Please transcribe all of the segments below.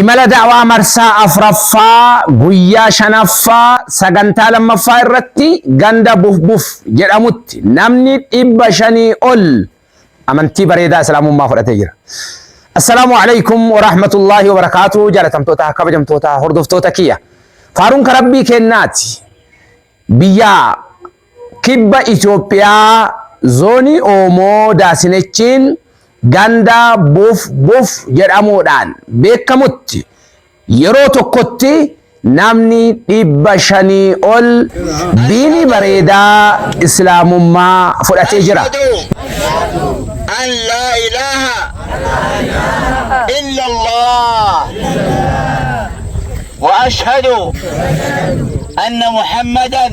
Imala da'waa marsaa afraffaa guyyaa shanaffaa sagantaa lammaffaa irratti ganda Bufbuf jedhamutti namni dhibba shanii ol amantii bareedaa Islaamummaa fudhatee jira. Assalaamu alaikum wa rahmatullaahi wa barakaatu jaalatamtoota kabajamtoota hordoftoota kiyya. Faaruun karabbii kennaati biyyaa Kibba Itoophiyaa Zoonii Oomoo Daasinechiin ganda Buf Buf jedhamuudhaan beekamutti yeroo tokkotti namni dhibba shanii ol diinii bareedaa Islaamummaa fudhatee jira. Ashhadu an laa ilaaha illallah wa ashhadu anna Muhammadan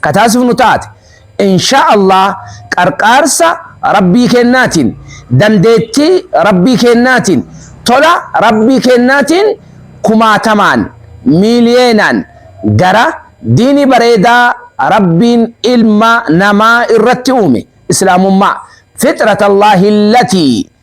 ka taasifnu taate inshaa Allah qarqaarsa Rabbii keennaatiin dandeettii Rabbii keennaatiin tola Rabbii keennaatiin kumaatamaan miiliyeenaan gara diinii bareedaa Rabbiin ilma namaa irratti uume islaamummaa fixratallahi allatii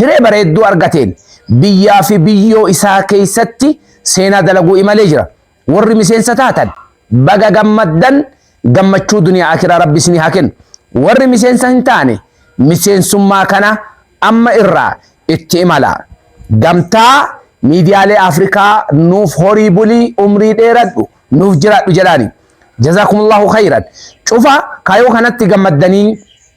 Hiree bareedduu argateen biyyaa fi biyyoo isaa keessatti seenaa dalaguu imalee jira. Warri miseensa taatan baga gammaddan gammachuu duniyaa akiraa rabbi isinii haa kennu. Warri miseensa hin taane miseensummaa kana amma irraa itti imalaa. Gamtaa miidiyaalee Afrikaa nuuf horii buli umrii dheeradhu nuuf jiraadhu jedhaani. Jazakumullahu khayran. Cufa kayoo kanatti gammaddanii